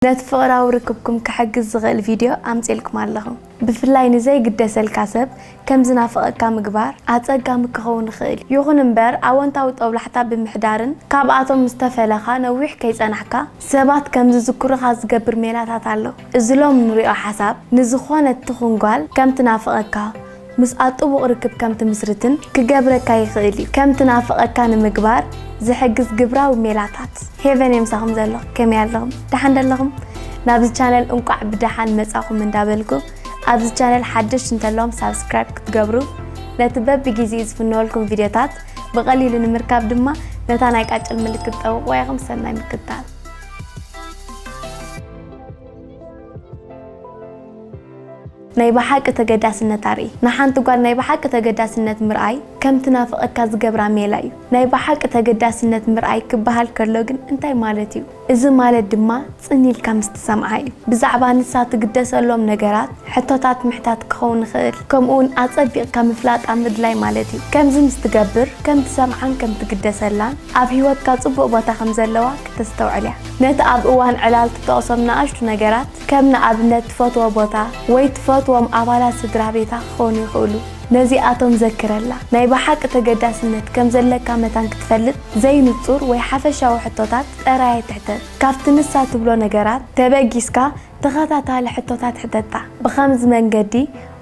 ነቲ ፍቕራዊ ርክብኩም ክሕግዝ ዝኽእል ቪድዮ ኣምጺኤልኩም ኣለኹ። ብፍላይ ንዘይግደሰልካ ሰብ ከም ዝናፍቐካ ምግባር ኣጸጋሚ ክኸውን ይኽእል እዩ። ይኹን እምበር፣ ኣወንታዊ ጦብላሕታ ብምሕዳርን ካብኣቶም ምስ ተፈለኻ ነዊሕ ከይጸናሕካ ሰባት ከም ዝዝክሩኻ ዝገብር ሜላታት ኣሎ። እዚ ሎሚ ንርእዮ ሓሳብ፣ ንዝዀነት ትኹን ጓል ከም ትናፍቐካ፣ ምስኣ ጥቡቕ ርክብ ከም ትምስርትን ክገብረካ ይኽእል እዩ። ከም ትናፍቐካ ንምግባር ዝሕግዝ ግብራዊ ሜላታት። ሄቨን የምሳኹም ዘሎ ከመይ ኣለኹም ደሓን ዶ ኣለኹም ናብዚ ቻነል እንቋዕ ብደሓን መጻኹም እንዳ በልኩ ኣብዚ ቻነል ሓደሽቲ እንተለኹም ሳብስክራይብ ክትገብሩ ነቲ በብጊዜኡ ዝፍነወልኩም ቪድዮታት ብቐሊሉ ንምርካብ ድማ ነታ ናይ ቃጭል ምልክት ጠውቕዋ ኢኹም ሰናይ ምክትታል። ናይ ብሓቂ ተገዳስነት ኣርኢ። ንሓንቲ ጓል ናይ ብሓቂ ተገዳስነት ምርኣይ ከም ትናፍቐካ ዝገብራ ሜላ እዩ። ናይ ብሓቂ ተገዳስነት ምርኣይ ክበሃል ከሎ ግን እንታይ ማለት እዩ? እዚ ማለት ድማ ጽን ኢልካ ምስ ትሰምዓ እዩ። ብዛዕባ ንሳ ትግደሰሎም ነገራት ሕቶታት ምሕታት ክኸውን ይኽእል፣ ከምኡውን ኣጸቢቕካ ምፍላጣ ምድላይ ማለት እዩ። ከምዚ ምስ ትገብር ከም ትሰምዓን ከም ትግደሰላን ኣብ ህይወትካ ጽቡቕ ቦታ ከም ዘለዋ ክተስተውዕል እያ። ነቲ ኣብ እዋን ዕላል ትጠቕሶም ንኣሽቱ ነገራት፣ ከም ንኣብነት ትፈትዎ ቦታ ወይ ትፈትዎም ኣባላት ስድራቤታ ክኾኑ ይኽእሉ። ነዚኣቶም ዘክረላ። ናይ ብሓቂ ተገዳስነት ከም ዘለካ መታን ክትፈልጥ ዘይንጹር ወይ ሓፈሻዊ ሕቶታት ጥራይ ኣይትሕተት። ካብቲ ንሳ ትብሎ ነገራት ተበጊስካ ተኸታታሊ ሕቶታት ሕተታ። ብኸምዚ መንገዲ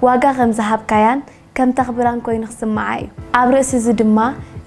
ዋጋ ከም ዝሃብካያን ከም ተኽብራን ኮይኑ ክስምዓ እዩ። ኣብ ርእሲ እዚ ድማ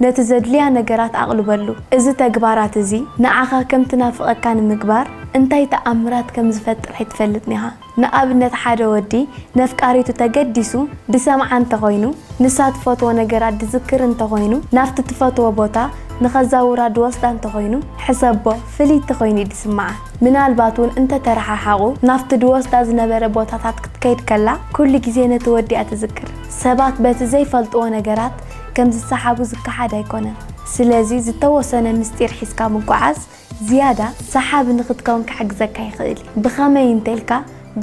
ነቲ ዘድልያ ነገራት ኣቕልበሉ። እዚ ተግባራት እዚ ንዓኻ ከም ትናፍቐካ ንምግባር እንታይ ተኣምራት ከም ዝፈጥር ኣይትፈልጥን ኢኻ። ንኣብነት ሓደ ወዲ ነፍቃሪቱ ተገዲሱ ድሰምዓ እንተ ኾይኑ፣ ንሳ ትፈትዎ ነገራት ድዝክር እንተ ኾይኑ፣ ናብቲ ትፈትዎ ቦታ ንኸዛውራ ድወስዳ እንተ ኾይኑ፣ ሕሰቦ ፍልይቲ ኾይኑ እዩ ድስምዓ። ምናልባት እውን እንተ ተረሓሓቑ፣ ናብቲ ዚወስዳ ዝነበረ ቦታታት ክትከይድ ከላ ኵሉ ግዜ ነቲ ወዲ እያ ትዝክር። ሰባት በቲ ዘይፈልጥዎ ነገራት ከም ዚሰሓቡ ዚከሓድ ኣይኰነን። ስለዚ፣ ዝተወሰነ ምስጢር ሒዝካ ምጕዓዝ ዝያዳ ሰሓቢ ንኽትከውን ኪሕግዘካ ይኽእል እዩ። ብኸመይ እንተ ኢልካ፣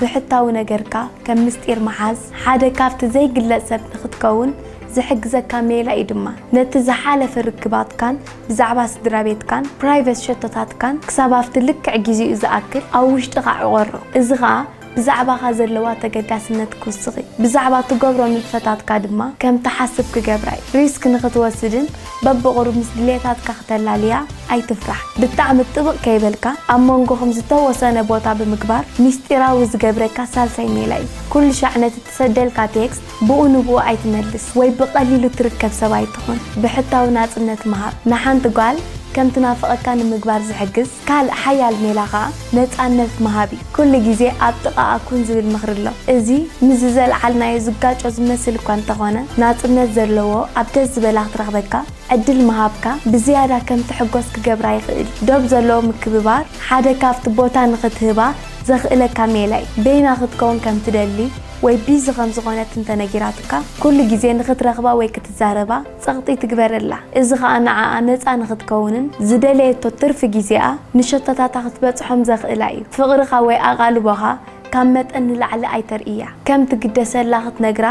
ብሕታዊ ነገርካ ከም ምስጢር ምሓዝ፣ ሓደ ካብቲ ዘይግለጽ ሰብ ንኽትከውን ዚሕግዘካ ሜላ እዩ ድማ ነቲ ዝሓለፈ ርክባትካን ብዛዕባ ስድራቤትካን ፕራይቨት ሸቶታትካን ክሳብ ኣብቲ ልክዕ ግዜኡ ዝኣክል ኣብ ውሽጥኻ ዕቘሮ። እዚ ኸኣ ብዛዕባኻ ዘለዋ ተገዳስነት ክውስኽ'ዩ፣ ብዛዕባ ትገብሮ ንጥፈታትካ ድማ ከም ትሓስብ ክገብራ'ዩ። ሪስክ ንኽትወስድን በብቝሩብ ምስ ድሌታትካ ክተላልያ ኣይትፍራሕ። ብጣዕሚ ጥብቕ ከይበልካ ኣብ መንጎኹም ዝተወሰነ ቦታ ብምግባር ምስጢራዊ ዝገብረካ ሳልሳይ ሜላ'ዩ። ኵሉሻዕ ነቲ ሰደልካ ቴክስት ብኡ ንብኡ ኣይትመልስ ወይ ብቀሊሉ ትርከብ ሰብ ኣይትኹን ብሕታዊ ናጽነት ምሃብ ንሓንቲ ጓል ከም ትናፍቀካ ንምግባር ዝሕግዝ ካልእ ሓያል ሜላ ከኣ ነጻነት ምሃብ እዩ ኩሉ ግዜ ኣብ ጥቃኣ ኩን ዝብል ምኽሪ ኣሎ እዚ ምስዚ ዘልዓልናዮ ዝጋጮ ዝመስል እኳ እንተኾነ ናጽነት ዘለዎ ኣብ ደስ ዝበላ ክትረኽበካ ዕድል ምሃብካ ብዝያዳ ከም ትሕጎስ ክገብራ ይኽእል ዶብ ዘለዎ ምክብባር ሓደ ካብቲ ቦታ ንኽትህባ ዘኽእለካ ሜላይ በይና ክትከውን ከም ትደሊ ወይ ቢዚ ከም ዝኾነት እንተ ነጊራትካ፣ ኩሉ ግዜ ንኽትረኽባ ወይ ክትዛረባ ጸቕጢ ትግበረላ። እዚ ኸኣ ንዓኣ ነጻ ንኽትከውንን ዝደለየቶ ትርፊ ግዜኣ ንሸቶታታ ክትበጽሖም ዘኽእላ እዩ። ፍቕርኻ ወይ ኣቓልቦኻ ካብ መጠን ንላዕሊ ኣይተርእያ። ከም ትግደሰላ ክትነግራ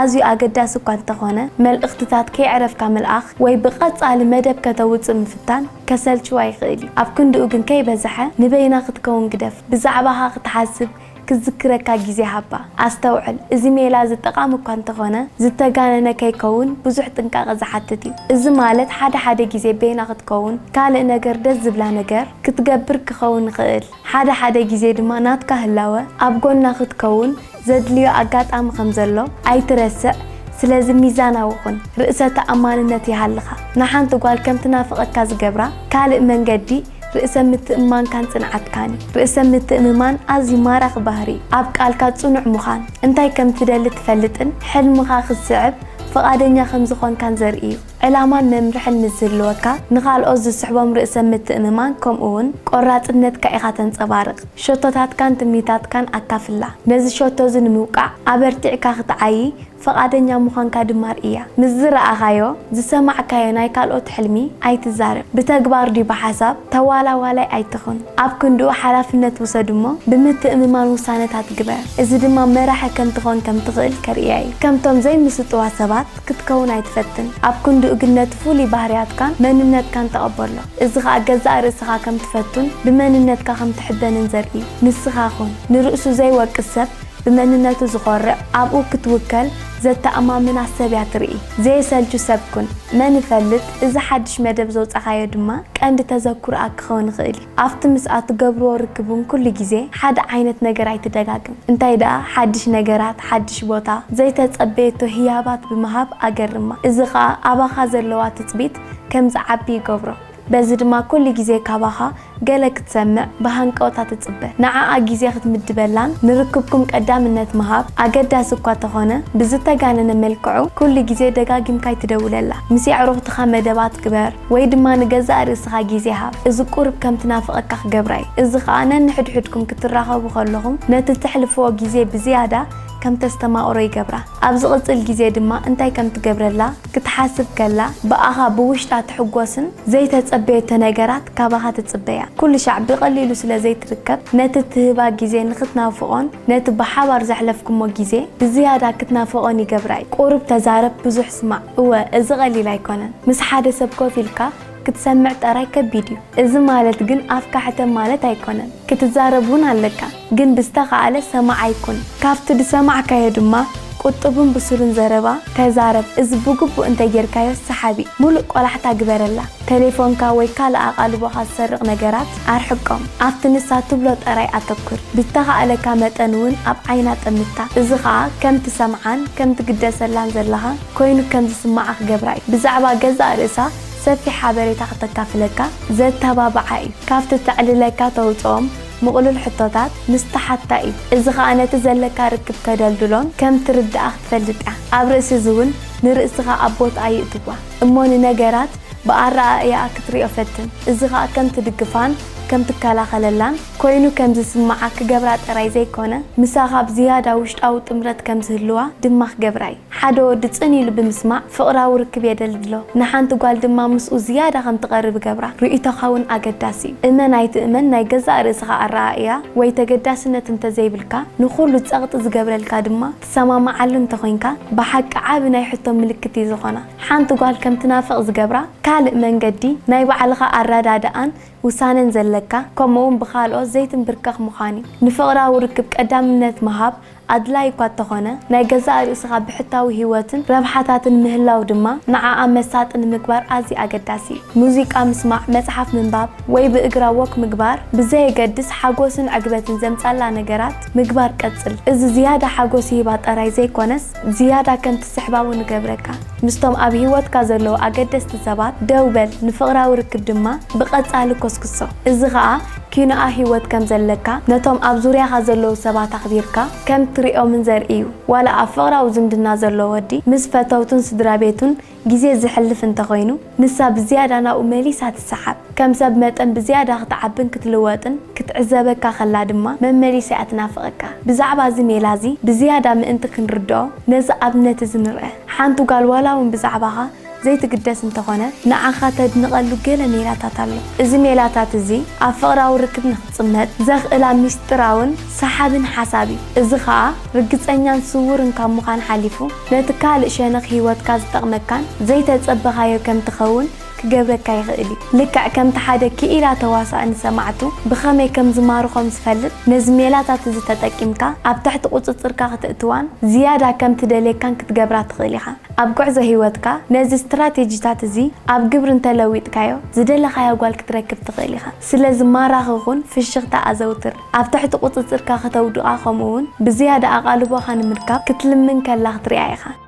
ኣዝዩ ኣገዳሲ እኳ እንተ ኾነ፣ መልእኽትታት ከየዕረፍካ ምልኣኽ ወይ ብቐጻሊ መደብ ከተውጽእ ምፍታን፣ ከሰልችዋ ይኽእል እዩ። ኣብ ክንድኡ ግን ከይበዝሐ ንበይና ክትከውን ግደፍ። ብዛዕባኻ ክትሓስብ፣ ክትዝክረካ ግዜ ሃባ። ኣስተውዕል፣ እዚ ሜላ እዚ ጠቓሚ እኳ እንተኾነ፣ ዝተጋነነ ከይከውን ብዙሕ ጥንቃቐ ዝሓትት እዩ። እዚ ማለት ሓደ ሓደ ግዜ በይና ክትከውን፣ ካልእ ነገር ደስ ዝብላ ነገር ክትገብር ክኸውን ይኽእል። ሓደ ሓደ ግዜ ድማ ናትካ ህላወ ኣብ ጎና ክትከውን ዘድልዮ ኣጋጣሚ ከም ዘሎ ኣይትረስዕ ስለዚ ሚዛናዊ ኩን ርእሰ ተኣማንነት ይሃልኻ ንሓንቲ ጓል ከም ትናፍቀካ ዝገብራ ካልእ መንገዲ ርእሰ ምትእምማንካን ጽንዓትካን እዩ ርእሰ ምትእምማን ኣዝዩ ማራኺ ባህሪ እዩ ኣብ ቃልካ ጽኑዕ ምዃን እንታይ ከም ትደሊ ትፈልጥን ሕልምኻ ክትስዕብ ፍቃደኛ ከም ዝኾንካን ዘርኢ እዩ ዕላማን መምርሕን ምስ ዝህልወካ፣ ንኻልኦት ዝስሕቦም ርእሰ ምትእምማን ከምኡውን ቈራጽነትካ ኢኻ ተንጸባርቕ። ሸቶታትካን ትምኒታትካን ኣካፍላ። ነዚ ሸቶ እዚ ንምውቃዕ ኣበርቲዕካ ኽትዓዪ ፍቓደኛ ምዃንካ ድማ ርእያ። ምስ ዝረኣኻዮ፣ ዝሰማዕካዮ ናይ ካልኦት ሕልሚ ኣይትዛረብ። ብተግባር ድዩ ብሓሳብ፣ ተዋላዋላይ ኣይትኹን። ኣብ ክንድኡ ሓላፍነት ውሰድ እሞ ብምትእምማን ውሳነታት ግበር። እዚ ድማ መራሒ ከም ትዀን ከም ትኽእል ከርእያ ኢዩ። ከምቶም ዘይምስጡዋት ሰባት፣ ክትከውን ኣይትፈትን። ኣብ ክንድኡ ግን ነቲ ፍሉይ ባህርያትካን መንነትካን ተቐበሎ። እዚ ኸኣ ገዛእ ርእስኻ ከም ትፈቱን ብመንነትካ ከም ትሕበንን ዘርኢ እዩ። ንስኻ ኩን። ንርእሱ ዘይወቅስ ሰብ፣ ብመንነቱ ዝኾርዕ፣ ኣብኡ ክትውከል ዘተኣማምና ሰብ እያ ትርኢ። ዘየሰልቹ ሰብ ኩን። መን ይፈልጥ፣ እዚ ሓድሽ መደብ ዘውጻኻዮ ድማ ቀንዲ ተዘክሮኣ ክኸውን ይኽእል እዩ። ኣብቲ ምስኣ እትገብርዎ ርክብ እውን ኵሉ ግዜ ሓደ ዓይነት ነገር ኣይትደጋግም። እንታይ ደኣ ሓድሽ ነገራት፣ ሓድሽ ቦታ፣ ዘይተጸበየቶ ህያባት ብምሃብ ኣገርማ። እዚ ኸኣ ኣባኻ ዘለዋ ትጽቢት ከም ዝዓቢ ይገብሮ። በዚ ድማ ኵሉ ግዜ ካባኻ ገለ ክትሰምዕ ብሃንቀውታ ትጽበ። ንዓኣ ግዜ ክትምድበላን ንርክብኩም ቀዳምነት ምሃብ ኣገዳሲ እኳ እንተዀነ፣ ብዝተጋነነ መልክዑ ኵሉ ግዜ ደጋጊምካ ኣይትደውለላ። ምስ የዕሩኽትኻ መደባት ግበር። ወይ ድማ ንገዛእ ርእስኻ ግዜ ሃብ፣ እዚ ቁሩብ ከም ትናፍቐካ ክገብራ እዩ። እዚ ኸኣ ነንሕድሕድኩም ክትራኸቡ ከለኹም ነቲ እተሕልፍዎ ግዜ ብዝያዳ ከም ተስተማቕሮ ይገብራ። ኣብ ዝቕጽል ግዜ ድማ እንታይ ከም ትገብረላ ክትሓስብ ከላ ብኣኻ ብውሽጣ ትሕጐስን ዘይተጸበየቶ ነገራት ካባኻ ትጽበያ። ኩልሻዕ ብቐሊሉ ስለ ዘይትርከብ ነቲ እትህባ ግዜ ንኽትናፍቖን ነቲ ብሓባር ዘሕለፍኩሞ ግዜ ብዝያዳ ክትናፍቖን ይገብራ'ዩ። ቁሩብ ተዛረብ ብዙሕ ስማዕ፣ እወ እዚ ቀሊል ኣይኮነን። ምስ ሓደ ሰብ ኮፍ ኢልካ ክትሰምዕ ጠራይ ከቢድ'ዩ። እዚ ማለት ግን ኣፍካ ሕተም ማለት ኣይኮነን። ክትዛረብ ውን ኣለካ። ግን ብዝተኻእለ ሰማዓይ ኩን። ካብቲ ዝሰማዕካዮ ድማ ቁጡብን ብሱልን ዘረባ ተዛረብ። እዚ ብግቡእ እንተጌርካዮ ሰሓቢ፣ ምሉእ ቆላሕታ ግበረላ። ተሌፎንካ ወይ ካልእ ኣቓልቦኻ ዝሰርቕ ነገራት ኣርሕቆም። ኣብቲ ንሳ ትብሎ ጠራይ ኣተኩር። ብዝተኻእለካ መጠን እውን ኣብ ዓይና ጠምታ። እዚ ኸኣ ከም ትሰምዓን ከም ትግደሰላን ዘለኻ ኰይኑ ከም ዝስምዓ ክገብራ እዩ። ብዛዕባ ገዛእ ርእሳ ሰፊሕ ሓበሬታ ከተካፍለካ ዘተባብዓ እዩ። ካብቲ እተዕልለካ ተውጽኦም ምቕሉል ሕቶታት ምስ ትሓታ እዩ። እዚ ኸኣ ነቲ ዘለካ ርክብ ተደልድሎን ከም ትርድኣ ክትፈልጥ እያ። ኣብ ርእሲ እዚ እውን ንርእስኻ ኣብ ቦትኣ ይእትዋ። እሞ ንነገራት ብኣረኣእያኣ ክትሪኦ ፈትን። እዚ ኸኣ ከም ትድግፋን ከም ትከላኸለላን ኰይኑ ከም ዝስምዓ ክገብራ ጥራይ ዘይኰነ፣ ምሳኻ ብዝያዳ ውሽጣዊ ጥምረት ከም ዝህልዋ ድማ ክገብራ ኢዩ። ሓደ ወዲ ጽን ኢሉ ብምስማዕ ፍቕራዊ ርክብ የደልድሎ፣ ንሓንቲ ጓል ድማ ምስኡ ዝያዳ ከም ትቐርብ ይገብራ። ርእይቶኻ እውን ኣገዳሲ ኢዩ። እመን ኣይትእመን ናይ ገዛእ ርእስኻ ኣረኣእያ ወይ ተገዳስነት እንተ ዘይብልካ፣ ንዅሉ ጸቕጢ ዝገብረልካ ድማ፣ ትሰማማዓሉ እንተኾይንካ ብሓቂ ዓቢ ናይ ሕቶ ምልክት እዩ ዝኾና። ሓንቲ ጓል ከም ትናፍቕ ዝገብራ ካልእ መንገዲ ናይ ባዕልኻ ኣረዳድኣን ውሳነን ዘለካ ከምኡ'ውን ብኻልኦት ዘይትምብርከኽ ምዃን እዩ። ንፍቕራዊ ርክብ ቀዳምነት ምሃብ ኣድላዪ እኳ እተኾነ፣ ናይ ገዛእ ርእስኻ ብሕታዊ ህይወትን ረብሓታትን ምህላው ድማ ንዓኣ መሳጢ ንምግባር ኣዝዩ ኣገዳሲ እዩ። ሙዚቃ ምስማዕ፣ መጽሓፍ ምንባብ ወይ ብእግራ ወክ ምግባር ብዘየገድስ ሓጎስን ዕግበትን ዘምጽኣላ ነገራት፣ ምግባር ቀጽል። እዚ ዝያዳ ሓጎስ ይህባ ጠራይ ዘይኮነስ ዝያዳ ከም ትስሕባ ውን እገብረካ። ምስቶም ኣብ ሂወትካ ዘለዉ ኣገደስቲ ሰባት ደው በል ንፍቕራዊ ርክብ ድማ ብቐጻሊ ኮስኩሶ። እዚ ከኣ ኪኖኣ ሂወት ከም ዘለካ ነቶም ኣብ ዙርያኻ ዘለዉ ሰባት ኣኽቢርካ ከም ትሪኦምን ዘርኢ'ዩ። ዋላ ኣብ ፍቕራዊ ዝምድና ዘሎ ወዲ ምስ ፈተውቱን ስድራቤቱን ግዜ ዘሕልፍ እንተ ዀይኑ፣ ንሳ ብዝያዳ ናብኡ መሊሳ ትሰሓብ። ከም ሰብ መጠን ብዝያዳ ኽትዓብን ክትልወጥን ክትዕዘበካ ኸላ ድማ መመሊሳ እያ ትናፍቐካ። ብዛዕባ እዚ ሜላ እዚ ብዝያዳ ምእንቲ ኽንርድኦ፣ ነዚ ኣብነት እዚ ንርኣ። ሓንቲ ጓል ዋላ እውን ብዛዕባኻ ዘይትግደስ እንተ ዀነት፣ ንዓኻ ተድንቐሉ ገለ ሜላታት ኣሎ። እዚ ሜላታት እዚ ኣብ ፍቕራዊ ርክብ ንኽትጽመድ ዘኽእላ ምስጢራውን ሰሓብን ሓሳብ እዩ። እዚ ኸኣ ርግጸኛን ስዉርን ካብ ምዃን ሓሊፉ፣ ነቲ ካልእ ሸነኽ ህይወትካ ዝጠቕመካን ዘይተጸበኻዮ ከም ትኸውን ክገብረካ ይኽእል እዩ። ልክዕ ከምቲ ሓደ ክኢላ ተዋሳኢ ንሰማዕቱ ብኸመይ ከም ዝማርኾም ዝፈልጥ፣ ነዚ ሜላታት እዚ ተጠቂምካ ኣብ ትሕቲ ቍጽጽርካ ክተእትዋን ዝያዳ ከም ትደልየካን ክትገብራ ትኽእል ኢኻ። ኣብ ጕዕዞ ህይወትካ ነዚ ስትራቴጂታት እዚ ኣብ ግብሪ እንተ ለዊጥካዮ፣ ዝደለኻያ ጓል ክትረክብ ትኽእል ኢኻ። ስለዚ ማራኺ ኩን፣ ፍሽኽታ ኣዘውትር። ኣብ ትሕቲ ቍጽጽርካ ከተውድቓ ኸምኡውን ብዝያዳ ኣቓልቦኻ ንምርካብ ክትልምን ከላ ኽትርኣ ኢኻ።